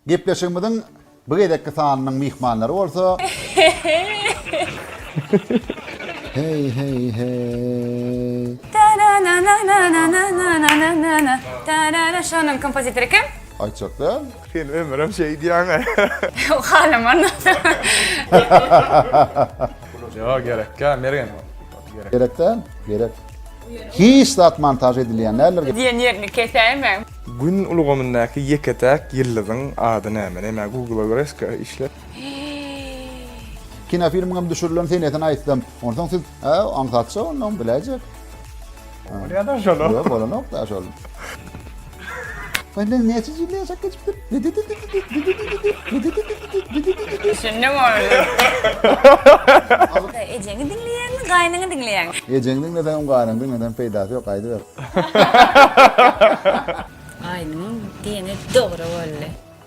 Gepleşigimiziň bu gezekki sanynyň myhmanlary bolsa. Heý heý heý. Şonun kompozitory kim? Aýtjak däl. Sen ömürem şeý diýýäňä. Halaman. Ýok gerekkä Mergen. Gerek däl, gerek. Hiç zat montaž edilýän däldir. Diýen ýerini kesäýmäň. Gün ulgamyndaky ýeke-täk ýyldyzyň ady näme? Näme Google-a görä eske işler. Kinofilmiňem düşürilen senesini aýtsam. Onsoň siz, Hä, aňsatja onda, biläýjek. Bolýa-da şol. Ýok, bolanok-da şol. Benden näçe ýyl ýaşap geçipdir? Düşündim ony. Ejeňi diňleýäňmi, gaýynyňy diňleýäňmi? Ejeňi diňleseňem, gaýynyňy diňleseňem peýdasy ýok, gaýdyber. Gaýynyňyň diýeni dogry boldy.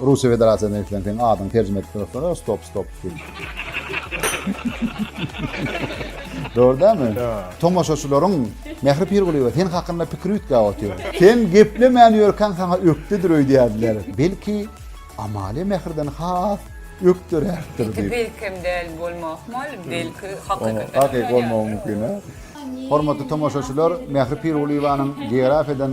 Russiýa Federasiýasynda işleň seň adyňy terjime edip durasana stop stop film. Dogry dämi? Tomaşaçylaryň Mähri Pirgulyýewa sen hakynda pikir üýtgäp otyr. Sen geplemän ýörkäň saňa ökdedir öýdýärdiler. Belki Amalia Mähriden has ökderärdir diýip. Belki hem däl bolmagy ahmal, belki hakykatdan. Hakyky bolmagy mümkin. Hormatly tomaşaçylar Mähri Pirgulyýewanyň geografiýadan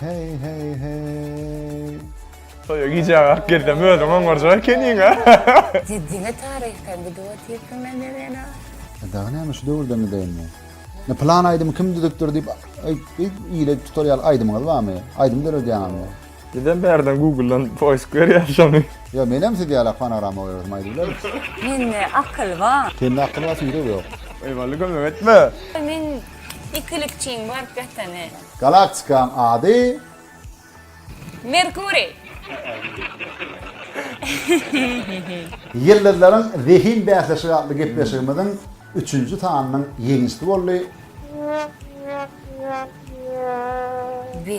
Heý heý heý. Toýa gijä galyp gelsem özüň oňarjak ekeniňä. Diňe taryhdan gidip otyrsyň da Mevena. Dagy näme şu döwürden gideýinmi? Ne plan aýdymy kim düzüpdir diýip ile tutar ýaly aýdymyňyz barmy? Aýdym döredýäňizmi? Bizem bärden Google-dan poisk berýäs şony. Ýa menem siz ýaly fonograma goýarsym aýdyp bilermisiz? Mende akyl bar. Sende akyl bar süýdüp ýok. Eý Wally kömek etme. Men ikilikçiň baryp ýatany. Galaktikaň ady. Merkuriý. Ýyldyzlaryň zehin bäsleşigi atly gepleşigimiziň üçünji sanynyň ýeňijsi boldy. Bi.